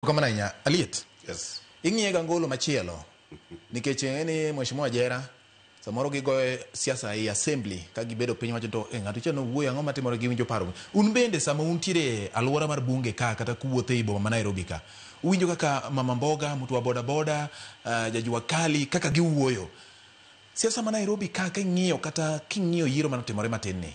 Kamano ahinya. Aliet. Yes. Ing'iye ga ngolo machielo. Nikech ing'e ni Mheshimiwa Jera samoro gigoyo siasa e assembly ka gibedo piny wacho to eh, ng'ato cha nowuoyo ang'o matimore gi winjo paro. Un bende sama untiere e alwora mar bunge ka kata kuwuotho ei boma ma Nairobi ka uwinjo kaka Mama Mboga, mtu wa boda boda, uh, Jajua Kali kaka giwuoyo. Siasa ma Nairobi ka king'iyo kata king'iyo yiero manotimore matin ni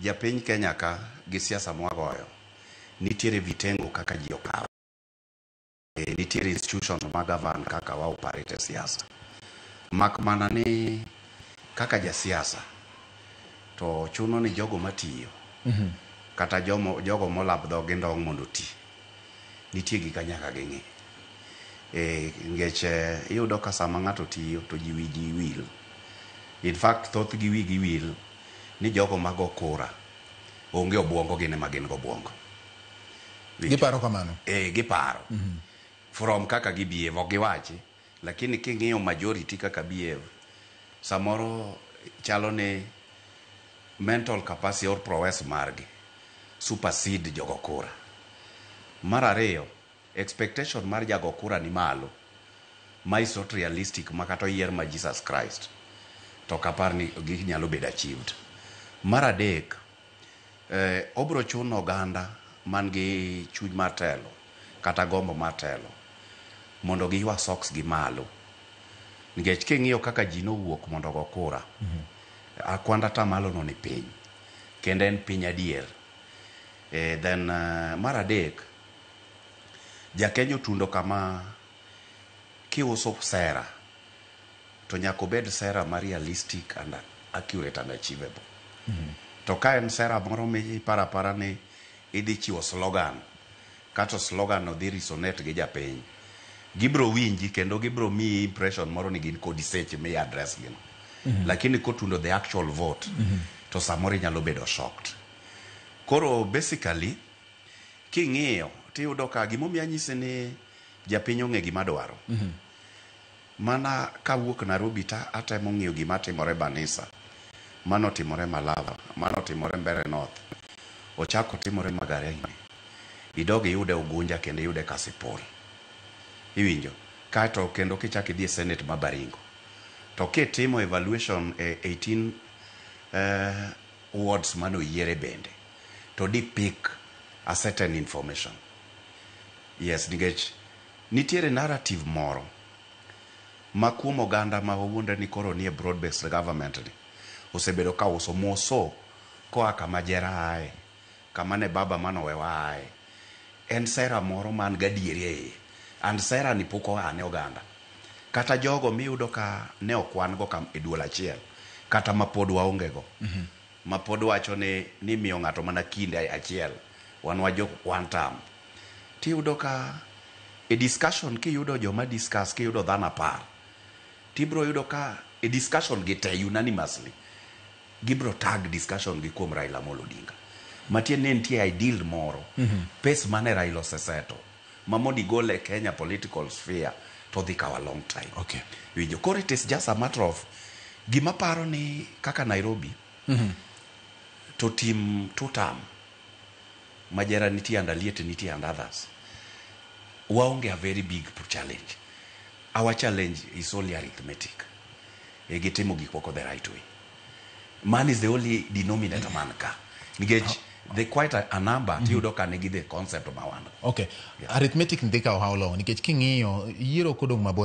Japiny Kenya ka gi siasa mwagoyo nitiere vitengo kaka ji okawe. E, nitiere institutions ma govern kaka wa operate siasa. Mak mana ni kaka ja siasa to chuno ni jogo matiyo mm -hmm. kata jomo, jogo molab dhog gi ndong mondo ti nitie gik anyaka ging'i e, ngech e, iyudo ka sama ng'ato tiyo to ji wiji wil in fact thoth gi wigi wil ni jogo mago kura onge obuongo gin ema gin gobuongo. Winjo? Giparo kamano. Eh, giparo. From kaka gi behave, ok giwachi. Lakini king'iyo majority kaka behave, samoro chalo ni mental capacity or prowess margi supersede jogo kura. Mar ariyo, Expectation mar jago kura ni malo. Ma is not realistic ma kata oyier ma Jesus Christ to ok apar ni ginyalo bedo achieved. Mar adek, eh, obro chuno oganda man gi chuny mar telo kata gombo mar telo mondo giywa socks gi malo nikech king'iyo kaka ji nowuok mondo ogo kura akwand atamalo no ni piny kendo en piny adier eh, then eh, mar adek Jakenya otundo kama, kiuso sera to nyaka obed sera ma realistic and accurate and achievable. To ka en sera moro miparo apara ni idhi chiwo slogan, kato slogan no dhi resonate gi japiny, gibiro winji kendo gibiro miyi impression moro ni gin kodi seche mi address gi no. Lakini kotundo the actual vote, to samoro inyalo bedo shocked. Koro basically, King'iyo tiyudo ka gimomiyo anyisi ni japiny ong'e gima dwaro. Mhm. Mana kawuok Nairobi ta atemo ng'iyo gima timore Banisa. Mano timore Malava, mano timore Mbere North. Ochako timore Magarini. Idog iyude Ugunja kendo iyude Kasipul. Iwinjo? Kaeto kendo kichak idhi e Senate ma Baringo. To kitimo evaluation e 18 eh, wards mane oyiere bende. to di pick a certain information. Yes, nikech nitiere narrative moro ma kuom oganda ma wawuondre ni koro nie broad based government ni osebedo ka uso moso koa kama jera aye, kama ne baba mane owewa aye. En sera moro man gadieri e iye and sera ni pok oa ne oganda. Kata jogo miyudo ka ne okwan go e duol achiel kata mapod waonge go. ma pod wacho ni nimiyo ng'ato mana kinde achiel, wan wajok quantum, tiyudo ka e discussion kiyudo joma discuss kiyudo dhano apar, tibiro yudo ka e discussion gi te unanimously gibiro tag discussion gi kuom Raila Amolo Odinga. Matiende ni nitie ideal moro, pace mane Raila ose settle. ma mondo igole e Kenya political sphere to odhi kawo a long time. Okay. Iwinjo? Koro it is just a matter of gima paro ni kaka Nairobi to tim two term ma Jera nitie and Aliet nitie and others. Waonge a very big challenge. Our challenge is only arithmetic. E gitimo gik moko the right way. man is the only denominator man ka nikech the quite a, a number mm -hmm. tiyudo ka nigi the concept ma wan okay yeah. arithmetic ndhika ohaw long nikech king'iyo yiero kodong' mabor